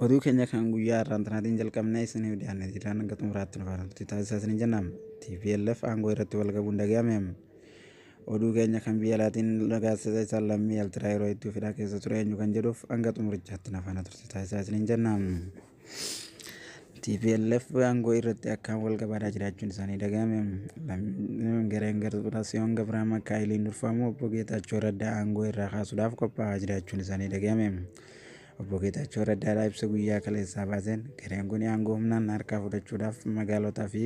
Oduu keenya kan guyyaa har'aan tanaatiin jalqabnee isiniif dhiyaanne jiraan hanga xumuraatti nu faana turtii taasisaa isiniin jennaan TPLF aangoo irratti wal gabuun dhaga'ame. Oduu keenya kan biyya alaatiin gaazexeessaa isaan lammii Altiraayiroo itti fidhaa keessa ture eenyu kan jedhuuf hanga xumurichaatti nu faana turtii taasisaa isiniin jennaan. Tplf aangoo irratti akkaan wal qabaataa jiraachuun isaanii dhaga'ame. Lammiileen gareen Garbaasiyoon Gabraa Makaayiliin durfamu obbo Geetaachoo Raddaa aangoo irraa kaasuudhaaf qophaa'aa jiraachuun isaanii dhaga'ame. Obbo Geetaachoo Raddaadhaa ibsa guyyaa kaleessaa baaseen gareen kun aangoo humnaan harkaa fudhachuudhaaf magaalotaa fi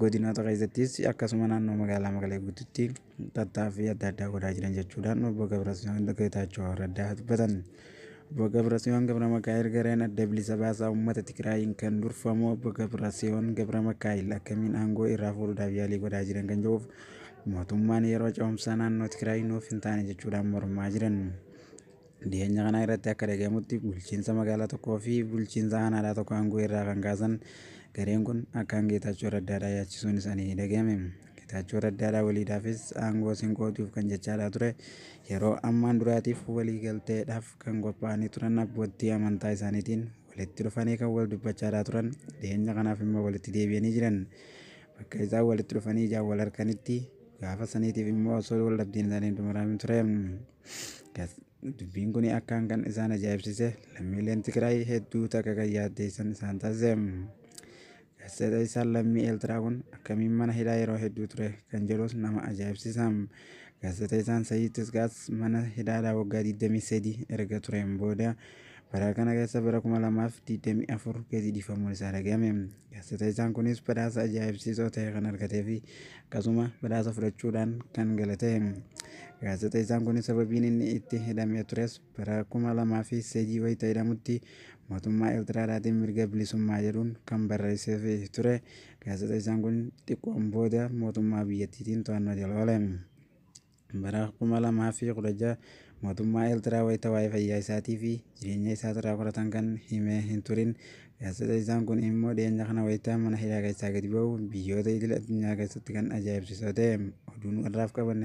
godinoota keessattis akkasuma naannoo magaalaa Maqalee guutuutti tattaaffii adda addaa godhaa jiran jechuudhaan obbo Gabrasiyoon Geetaachoo Raddaa dubbatan. Obbo Gabrasiyoon Gabra Makaa'el gareen adda bilisa baasaa uummata Tigraayiin kan durfamu obbo Gabrasiyoon Gabra Makaa'el akkamiin aangoo irraa fuudhuudhaaf yaalii godhaa jiran kan jedhuuf mootummaan yeroo ce'umsaa naannoo Tigraay nuuf hin taane jechuudhaan mormaa jiran. Dhiheenya kana irratti akka dhagahamutti bulchiinsa magaalaa tokkoo fi bulchiinsa aanaadhaa tokko aangoo irraa kan kaasan gareen kun akkaan Geetaachoo Raddaadhaa yaachisuun isaanii ni dhagahame. Geetaachoo Raddaadhaa waliidhaafis aangoo sin qooduuf kan jechaadhaa ture yeroo ammaan duraatiif waliigalteedhaaf kan qophaa'anii turan abboottii amantaa isaaniitiin walitti dhufanii kan wal dubbachaadhaa turan dhiheenya kanaaf immoo walitti deebi'anii jiran. Bakka isaan walitti dhufanii ijaan wal harkanitti gaafa saniitiif immoo osoo wal dhabdeen isaanii hin xumuraamin ture. Dubbiin kun akkaan kan isaan ajaa'ibsiise lammiileen Tigraay hedduu takka kan yaaddeessan isaan taasise. Gaazexeessaan lammii Eertiraa kun akkamiin mana hidhaa yeroo hedduu ture kan jedhus nama ajaa'ibsiisa. Gaazexeessaan Sayyid Tisgaas mana hidhaadhaa waggaa 23 erga tureen booda Bara kana keessa bara 2024 keesi dhiifamuun isaa dhagahame. Gaazexeessaan kunis badhaasa ajaa'ibsiisoo ta'e kan argatee fi akkasuma badhaasa fudhachuudhaan kan gale ta'e. Gaazexeessaan kunis sababiin inni itti hidhamee tures bara 2003 wayita hidhamutti mootummaa Eertiraadhaatiin mirga bilisummaa jedhuun kan barreessee fi ture. Gaazexeessaan kun xiqqoon booda mootummaa biyyattiitiin to'annoo jala oole. Bara 2016 mootummaa Eertiraa wayita waa'ee fayyaa isaatii fi jireenya isaatirraa qoratan kan hime hin turin. Gaazexeessaan kun immoo dhiyeenya kana wayita mana hidhaa keessaa gadi ba'u biyyoota idil addunyaa keessatti kan ajaa'ibsiisu ta'e. Oduun har'aaf qabanne.